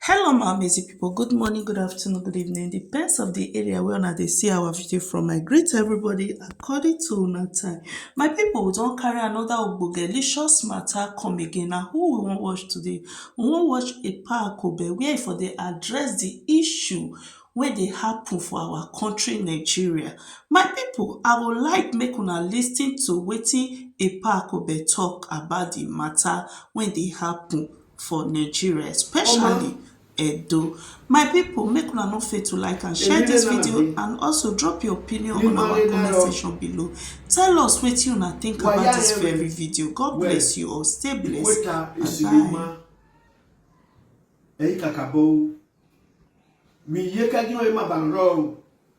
Hello my amazing people, good morning, good afternoon, good evening, depends of the area where una dey see our video from. I greet everybody according to una time. My people, we don carry another ogbongelicious matter come again. Na who we wan watch today? We wan watch Epa Akobe where e for dey address the issue wey dey happen for our country Nigeria. My people, I would like make una lis ten to wetin Epa Akobe talk about the matter wey dey happen. for Nigeria especially Edo. My people make una no fail to like and share this video and also drop your opinion on our comment section below. Tell us wetin una think about this very video. God bless you all. Stay blessed. Bye bye. Eyi kakabo. Mi ye ka di o e ma ba ro o.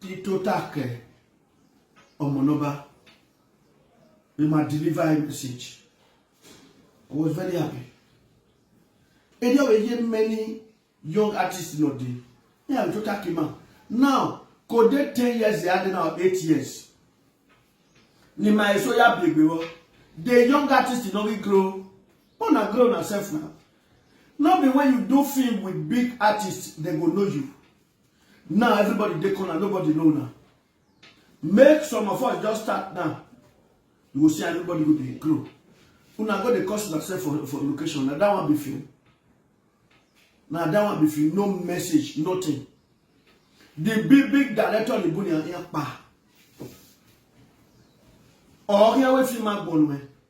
Ti to ta ke ọmọ nọba ni ma deliver a message. I was very happy. Edi ọwọ eye many young artists nọ de. Me am to ta ke ma. Now, kò dé ten years ya dị now eight years. Ni ma eso ya bi egbewo. The young artist no be grow. But na grow na self now. No be when you do film with big artists, they go know you. Now everybody dey corner, nobody know now. Make some of us just start now. You go see everybody go dey grow. Una go dey cause yourself for, for location. Now that one be film. Now that one be film. No message, nothing. The big big director on the bunny and pa. Or here we film my bone man.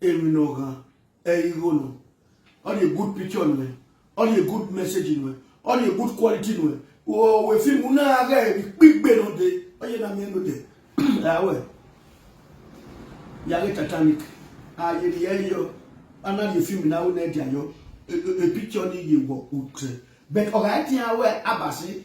eminogha eigho no all the good picture nwe all the good message nwe all the good quality nwe o we film na aga e gbigbe no de oye na mi no de awe ya le titanic aye ri e yo ana the film na o na dia yo e picture ni ye wo utre but oga ti awe abasi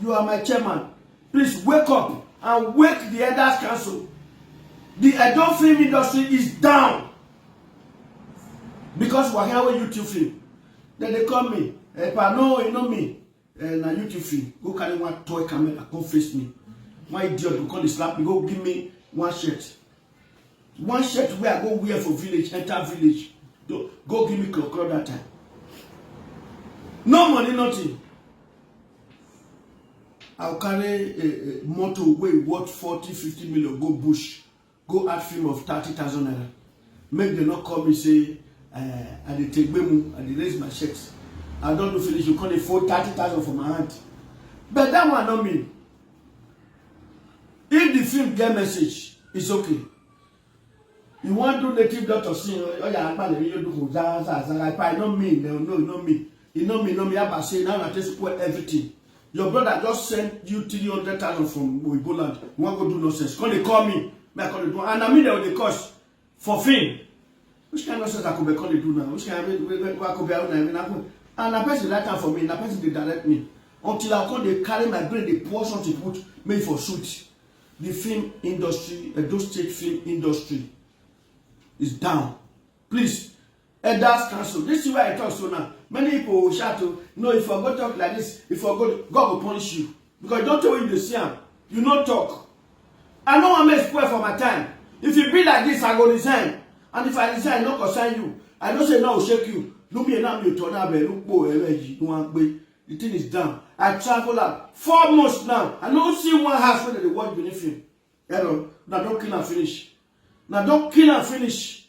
You are my chairman. Please wake up and wake the Elders Council. The adult film industry is down because wahala wey YouTube film. Then they call me, eh, pa no, you know me. Eh, na YouTube film. Go carry one toy camera, come face me. One idiot go come dey slap me, go give me one shirt. one shirt wey i go wear for village enter village go go give me kokoro that time no money nothing i go carry a, a motor wey worth forty fifty million go bush go add film of thirty thousand naira make dem no call me say uh, i dey take gbemu i dey raise my shirt i don do finish you come dey fold thirty thousand for my hand but that one no mean if the film get message it's okay you wan do native doctor sin oya akpali mi yo do ko za za za like i no mean no no no mean e no mean no mean aba say now na take spoil everything your brother just send you three hundred thousand from oyibo land you wan go do nonsense come dey call me make i come dey do and na me dem dey curse for fame which kind nonsense akobe come dey do now which kind wey wey wey akobe awo na na go and na person write am for me na person dey direct me until i come dey carry my brain dey pour something put make e for sweet the film industry edo state film industry is down please elders council this is why i talk so now many people will shout o no if i go talk like this if i go god go punish you because don't tell you to see am you no talk i no wan make spoil for my time if you be like this i go resign and if i resign no concern you i know say no shake you lumi ena mi oto na be lupo ere yi no wan pe the thing is done i travel out four months now i no see one house wey dey dey watch benin film hello na don kill am finish na don kill am finish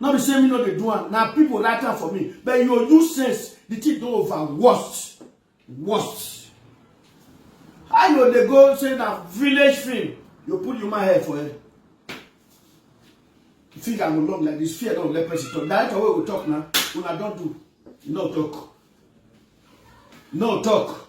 No be say me no dey do am, na people write am for me. But you use sense, the thing don over worst. Worst. How you dey go say na village film, you put human hair for head. Finger go long like this, fear don let person talk. Director wey go talk na, una don do, no talk. No talk.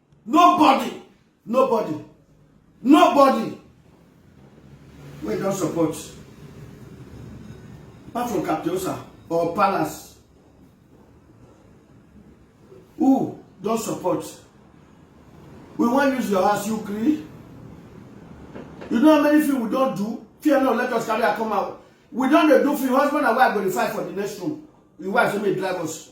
nobody nobody nobody wey don support apart from captiosa or palace who don support we wan use your house you gree you know how many film we don do fear no let us carry her come out we don dey do film husband and wife go dey fight for the next room the wife say make drive us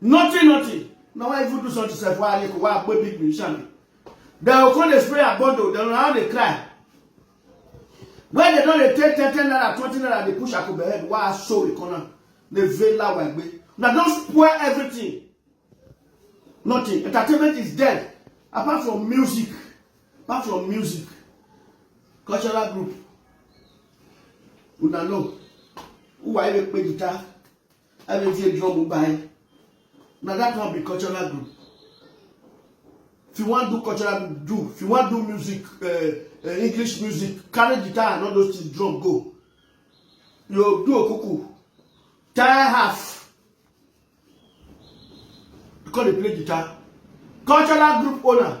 nothing nothing na why even do something sef why aleko why akpo big musician be dem go come dey spray abondo dem go now dey cry when dem don dey take ten ten naira twenty naira dey push akobe head why aso ikona dey veil lawa egbe na don spoil everything nothing entertainment is dead apart from music apart from music cultural group una know who are you pe guitar ebe tie bi ọmụ be anyị na that one be cultural group if you wan do cultural group do if you wan do music uh, uh, english music carry guitar and all those things drum go you do okuku tie half you come dey play guitar cultural group owner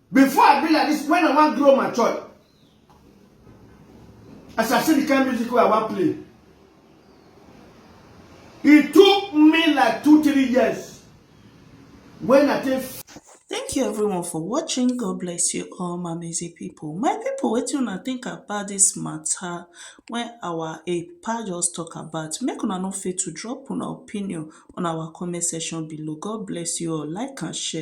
Before I be like this, when I wan grow my church, as I see the kind of music I wan play, it took me like two, three years when I take Thank you everyone for watching. God bless you all my amazing people. My people, what you not think about this matter when our APA just talk about? Make una no fail to drop an opinion on our comment section below. God bless you all. Like and share.